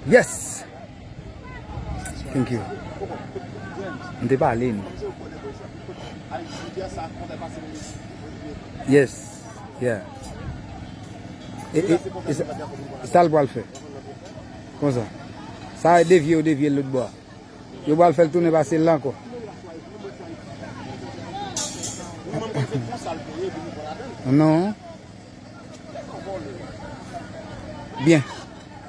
Yes! Thank you. M te pale m. Yes. Yeah. E, e, e sa, e sa l pral fè? Konsa. Sa e devye, yo devye l lout bò a. Yo pral fè l tounen pase l la ankò. Non. Byen,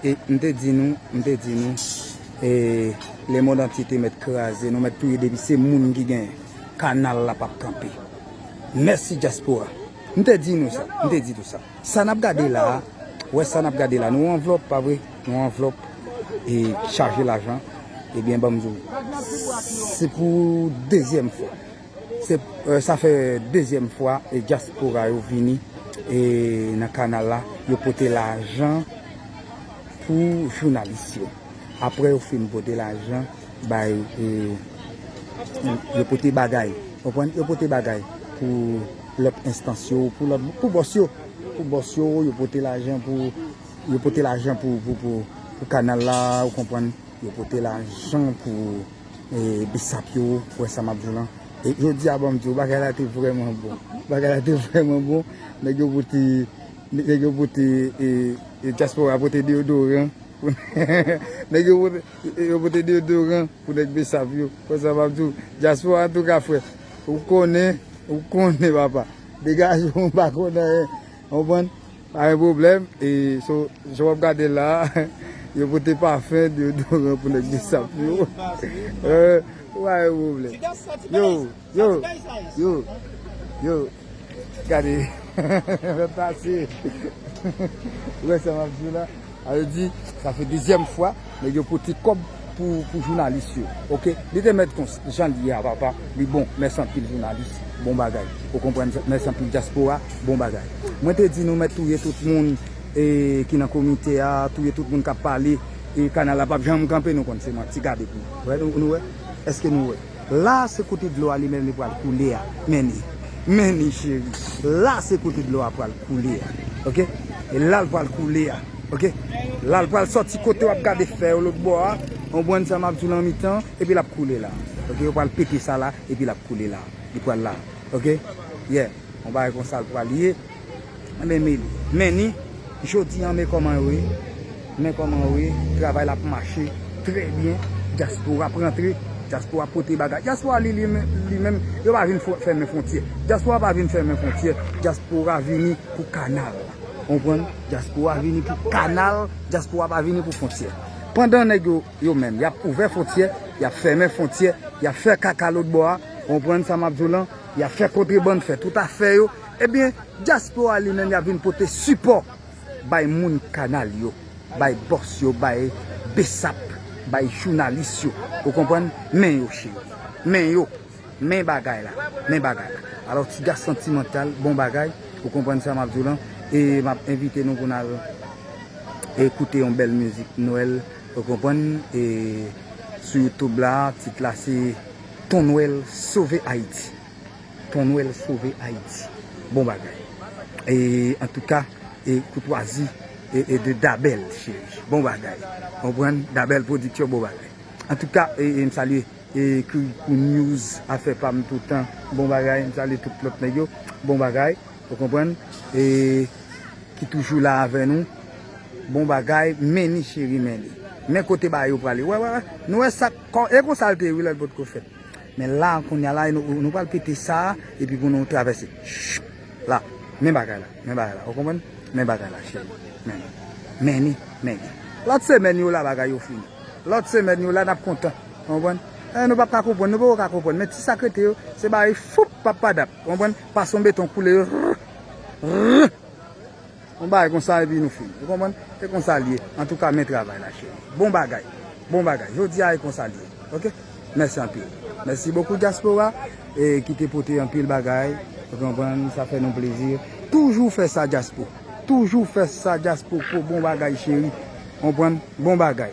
e m te di nou, m te di nou, e le mond antye te mèt kraze, nou mèt touye depi se moun ki gen kanal la pap kanpe. Mèsi dyaspora. M te di nou sa, m te di nou sa. Sa n ap gade la, wè sa n ap gade la, nou anvlop pa vre, nou anvlop e chaje lajan, ebyen banm di w, se pou dezyèm fwa. Sa fè dezyèm fwa dyaspora yo vini nan kanal la, yo pote lajan pou jounalis yo. Aprè yo fin pote lajan bay, yo pote bagay, konprann, yo pote bagay pou lòt enstans yo, pou bòs yo, pou bòs yo, yo pote lajan pou, yo pote lajan pou kanal la, ou konprann, yo pote lajan pou. Bisap yo wè sa map di w lan e jodi a banm di w bagay la te vrèman bon bagay la te vrèman bon nèg yo pote nèg yo pote e dyaspora pote deyodoran nèg yo pote yo pote deyodoran pou nèg Bsap yo wè sa map di w dyaspora antouka frè ou konnen ou konnen papa degaje w m pa konn anyen. Ou konprann? Pa gen pwoblèm. E so, jan w ap gade l la a, yo pote pafen, deyodoran pou nèg Bsap yo. Ou pa gen pwoblèm. Yo! Yo! Yo! Yo! Gade! Lòt la se. Ou wè sa m ap di w la? Sa vle di sa se dezyèm fwa nèg yo pote kòb pou jounalis yo ok li te mèt konsa janl ye a papa li bon mèsi anpil jounalis bon bagay ou konprann sa mèsi anpil dyaspora bon bagay mwen te di nou mèt touye tout moun ki nan komite a touye tout moun kap pale kanal la pap janm kanpe nou konn se manti gade pou nou wè eske nou wè. La a se kote dlo a li menm li pral koule a menni menni cheri la a se kote dlo a pral koule a ok e la l pral koule a ok la l pral sòti kote wap gade fè yo lòt bò a konprann sa map di w lan mitan epi lap koule la ok yo pral pete sa la epi lap koule la li pral la ok yè yon bagay konsa l pral ye. Anben me men ni Jodi an me koman yo ye men koman yo ye travay la ap mache trè byen diaspora ap rantre diaspora ap pote bagay diaspora li li menm yo pa vin fèmen frontyè diaspora pa vin fèmen frontyè diaspora vini pou kanal konprann diaspora vini pou kanal diaspora pa vini pou frontyè pandan nèg yo yo menm yap ouvè frontyè yap fèmen frontyè yap fè kaka lotbò a konprann sa map diw lan yap fè kontrebann fè tout afè yo. Ebyen diaspora li menm yap vin pote sipò bay moun kanal yo bay bòs yo bay bsap bay jounalis yo ou konprann men yo cheri men yo men bagay la men bagay la alò tiga santimantal bon bagay ou konprann sa map diw lan e map envite nou pou nal koute yon bèl mizik nwèl ou konprann e sou youtube la tit la se ton nwèl sove ayiti. Ton nwèl sove ayiti bon bagay antouka e koutwazi e de dabèl cheri bon bagay konprann dabèl pwodiksyon bon bagay antouka e m salye e kirikou news afè pam toutan bon bagay m salye tout lòt nèg yo bon bagay ou konprann e ki toujou la avè nou bon bagay meni cheri meni men kote ba yo prale wè wè wè nou wè sak e konsal te ye wi lèl potko fèt. Men la kounya la nou pral pete sa epi pou nou travèse chuppp la men bagay la men bagay la ou konprann men bagay la cheri men meni meni lòt semèn yo la bagay yo fini lòt semèn yo la nap kontan ou konprann eh nou pap ka konprann nou poko ka konprann men ti sak rete yo se bare foupp pap padap ou konprann pason beton koule yo rrrr rrrr. Yon bagay konsa epi nou fini. Ou konprann? Se konsa l ye. Antouka men travay la cheri. Bon bagay. Bon bagay. Jodi a e konsa l ye. Ok. Mèsi anpil. Mèsi bokou dyaspora e ki te pote anpil bagay. Ou konprann? Sa fè nou plezi. Toujou fè sa dyaspo. Toujou fè sa dyaspoko. Bon bagay cheri. Ou konprann? Bon bagay.